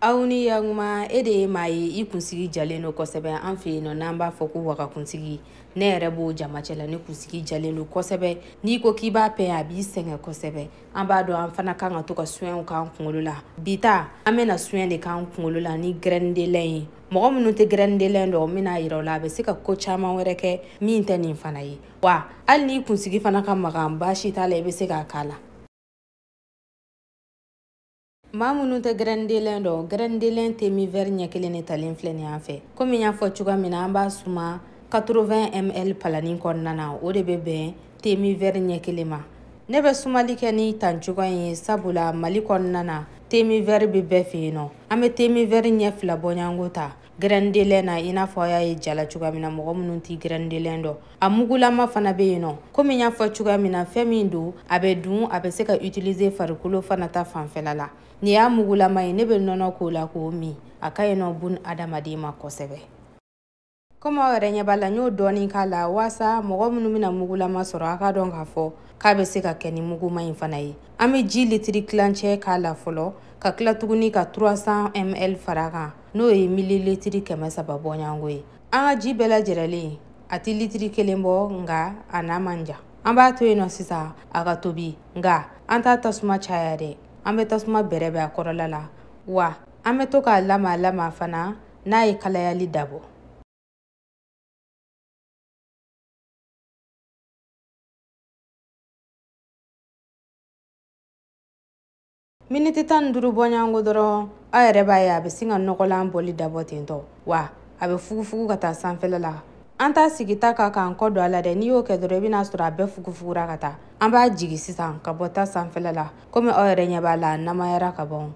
aw ni yakuma e de ye maa ye i kunsigi jalen don kosɛbɛ an fɛ yen nɔ n'an b'a fɔ ko waga kunsigi ne yɛrɛ b'o jama cɛ la ne kunsigi jalen don kosɛbɛ n'i ko k'i b'a pɛn a b'i sɛgɛn kosɛbɛ an b'a dɔn an fana kan ka to ka suɲɛw k'an kunkolo la bi ta an bɛna suɲɛ de k'an kunkolo la ni grɛndelɛn ye mɔgɔ minnu tɛ grɛndelɛn dɔn n bɛn'a yira o la a bɛ se ka ko caman wɛrɛ kɛ min tɛ nin fana ye wa hali n'i kunsigi fana ka magan baasi t'a la i bɛ se k'a k'a la maa minnu tɛ grɛndelɛn dɔn grɛndelɛn temi vɛri ɲɛ kelen de talen filɛ nin an fɛ komi y'a fɔ cogoya min na an b'a suma 80 ml palanin kɔnɔna na o de bɛ bɛn temi vɛri ɲɛ kelen ma ne bɛ sumali kɛ ni tan cogoya in ye sabula mali kɔnɔna na temi vɛri bɛ bɛɛ fɛ yen nɔ an bɛ temi vɛri ɲɛ fila bɔɲango ta grɛndelɛn na i n'a fɔ a y'a ye ja la cogoya min na mɔgɔ minnu tɛ grɛndelɛn dɔ a mugulama fana bɛ yen nɔ komi n y'a fɔ cogoya min na fɛn min don a bɛ dun a bɛ se ka utiliser farikolo fana ta fanfɛla la nin y'a mugulama ye ne bɛ nɔnɔ k'o la k'o min a ka ɲi nɔ bunadamaden ma kosɛbɛ komi aw yɛrɛ ɲɛ b'a la n y'o dɔɔni k'a la waasa mɔgɔ minnu bɛna mugulama sɔrɔ a ka dɔn k'a fɔ k'a bɛ se ka kɛ ni muguma in fana ye an bɛ ji litiri tilancɛ k'a la fɔlɔ ka tila tuguni ka 300 ml fara kan n'o ye mililitiri kɛmɛ saba bɔɲɔgɔnko ye an ka ji bɛɛ lajɛrɛlen a tɛ litiri kelen bɔ nka a n'a man jan an b'a to yen nɔ sisan a ka tobi nka an t'a tasuma caya dɛ an bɛ tasuma bɛrɛbɛn a kɔrɔla la wa an bɛ to k'a lama lama fana n'a ye kalayali dabɔ miniti tan ni duuru bɔɲango dɔrɔn aw yɛrɛ b'a ye a bɛ sin ka nɔgɔlan bɔli dabɔ ten tɔ wa a bɛ fugufugu ka taa sanfɛla la an t'a sigi ta kan k'an kɔ don a la dɛ n'i y'o kɛ dɔrɔn i bɛn'a sɔrɔ a bɛɛ fugufugura ka taa an b'a jigi sisan ka bɔ ta sanfɛla la komi aw yɛrɛ ɲɛ b'a la a namayara ka ban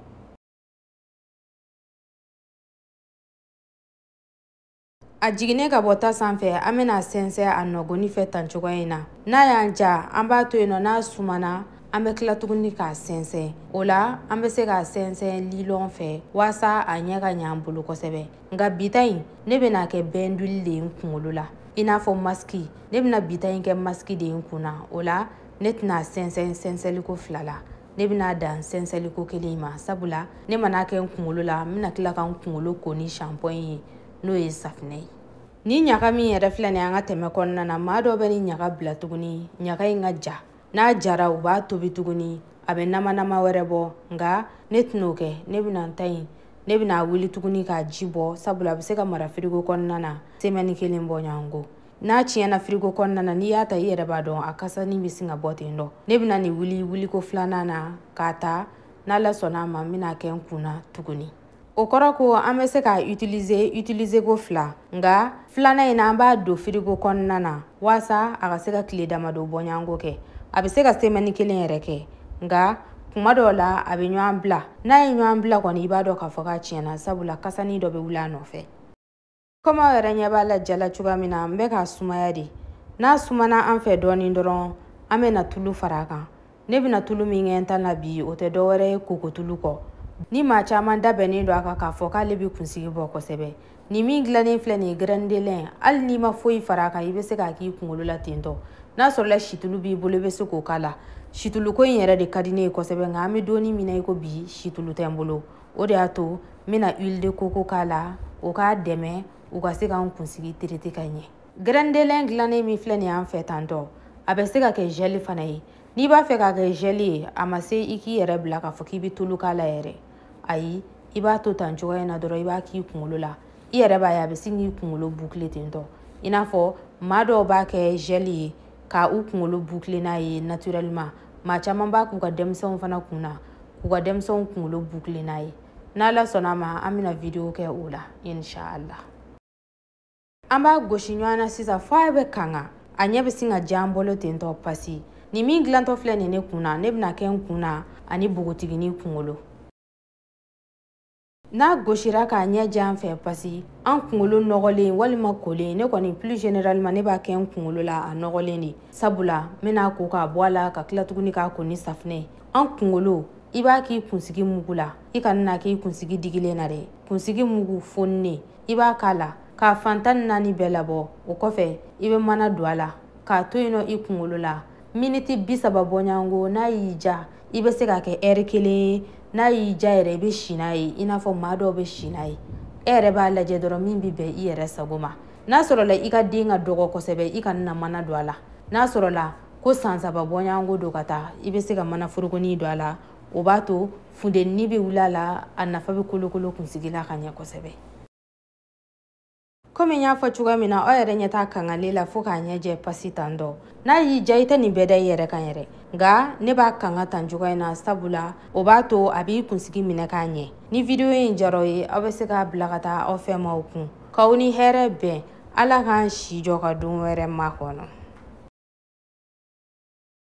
a jiginnen ka bɔ ta sanfɛ an bɛn'a sɛnsɛn a nɔgoni fɛ tan cogoya in na n'a y'an diya an b'a to yen nɔ n'a sumana an bɛ tila tuguni k'a sɛnsɛn o la an bɛ se k'a sɛnsɛn lilɔn fɛ waasa a ɲɛ ka ɲɛ an bolo kosɛbɛ nka bi ta in ne bɛna kɛ bɛnduli de ye n kunkolo la i n'a fɔ masiki ne bɛna bi ta in kɛ masiki de ye n kun na o la ne tɛn'a sɛnsɛn sɛnsɛnliko fila la ne bɛna dan sɛnsɛnliko kelen in ma sabula ne man'a kɛ n kunkolo la n bɛna tila ka n kunkolo ko ni shanpɔn ye n'o ye safinɛ ye nin ɲaga min yɛrɛ filɛ nin an ka tɛmɛ kɔnɔna na maa dɔ bɛ nin ɲaga bila tuguni ɲaga in ka ja n'a jara u b'a tobi tuguni a bɛ namanama wɛrɛ bɔ nka ne tɛn'o kɛ ne bɛna n ta in ne bɛna wuli tuguni k'a ji bɔ sabula a bɛ se ka mara firigo kɔnɔna na semɛni kelen bɔ ɲɔgɔn ko n'a tiɲɛna firigo kɔnɔna na n'i y'a ta i yɛrɛ b'a dɔn a kasani bɛ sin ka bɔ ten dɔ ne bɛna nin wuli wuliko filanan na k'a ta n'ala sɔnna a ma n bɛn'a kɛ n kun na tuguni o kɔrɔ ko an bɛ se k'a utiliser utiliser ko fila nka filanan in na an b'a don firigo kɔnɔna na waasa a ka se ka tile damadɔ bɔɲɔgɔnko kɛ a bɛ se ka semɛni kelen yɛrɛ kɛ nka kuma dɔw la a bɛ ɲɔgɔn bila n'a ye ɲɔgɔn bila kɔni i b'a dɔn k'a fɔ k'a tiɲɛna sabula kasani dɔ bɛ wuli a nɔfɛ komi aw yɛrɛ ɲɛ b'a la jala cogoya min na n bɛ k'a sumaya de n'a sumana an fɛ dɔɔnin dɔrɔn an bɛna tulu fara a kan ne bɛna tulu min kɛ n ta la bi o tɛ dɔwɛrɛ ye kokotulu kɔ ni maa caman da bɛnnen don a kan k'a fɔ k'ale bɛ kunsigi bɔ kosɛbɛ nin min dilannen filɛ nin ye graine de lin hali n'i ma foyi fara a kan i bɛ se k'a k'i kunkolo la tentɔ n'a sɔrɔla situlu b'i bolo i bɛ se k'o k'a la situluko in yɛrɛ de ka di ne ye kosɛbɛ nka an bɛ don in min na i ko bi situlu tɛ n bolo o de y'a to n bɛna huile de coco k'a la o k'a dɛmɛ u ka se k'an kunsigi traiter ka ɲɛ graine de lin dilannen min filɛ nin y'an fɛ tantɔ a bɛ se ka kɛ gel fana ye n'i b'a fɛ k'a kɛ gel ye a ma se i k'i yɛrɛ bila k'a fɔ k'i bɛ tulu k'a la yɛrɛ ayi i b'a to tan cogoya in na dɔrɔn i b'a k'i kunkolo la i yɛrɛ b'a ye a bɛ sin k'i kunkolo boucler ten tɔ i n'a fɔ maa dɔw b'a kɛ gel ye ka u kunkolo boucler n'a ye naturellement maa caman b'a k'u ka denmisɛnw fana kun na k'u ka denmisɛnw kunkolo boucler n'a ye n'ala sɔnna a ma an bɛna video kɛ o la inshallah an b'a gosi ɲɔgɔn na sisan fo a bɛ kanga a ɲɛ bɛ sin ka jɛ an bolo ten tɔ pasi nin min dilantɔ filɛ nin ne kun na ne bɛn'a kɛ n kun na ani bogotigini kunkolo n'a gosira k'a ɲɛ jɛ an fɛ pasi an kunkolo nɔgɔlen walima kolen ne kɔni plus généralement ne b'a kɛ n kunkolo la a nɔgɔlen de sabula n bɛna ko k'a bɔ a la ka tila tuguni k'a ko ni safinɛ an kunkolo i b'a k'i kunsigi mugu la i kana n'a k'i kunsigi digilen na dɛ kunsigi mugu foninen i b'a k'a la k'a fan tan ni naani bɛɛ labɔ o kɔfɛ i bɛ mana don a la k'a to yen nɔ i kunkolo la miniti bi saba bɔɲɔgɔnko n'a y'i diya i bɛ se k'a kɛ ɛri kelen n'a y'i diya yɛrɛ i bɛ si n'a ye i n'a fɔ maa dɔw bɛ si n'a ye e yɛrɛ b'a lajɛ dɔrɔn min bɛ bɛn i yɛrɛ sago ma n'a sɔrɔla i ka den ka dɔgɔ kosɛbɛ i kana mana don a la n'a sɔrɔla ko san saba bɔɲɔgɔnko don ka taa i bɛ se ka mana forokonin don a la o b'a to funteni bɛ wuli a la a nafa bɛ kolokolo kunsigi la ka ɲɛ kosɛbɛ komi n y'a fɔ cogoya min na aw yɛrɛ ɲɛ t'a kangalen na fo k'a ɲɛ jɛ pasi tan dɔ n'a y'i diya i tɛ nin bɛɛ da i yɛrɛ kan yɛrɛ nka ne b'a kanga tan cogoya in na sabula o b'a to a b'i kunsigi minɛ k'a ɲɛ ni video in diyara aw ye aw bɛ se k'a bila ka taa aw fɛ maaw kun k'aw ni hɛrɛ bɛn ala k'an si jɔ ka don wɛrɛ makɔnɔ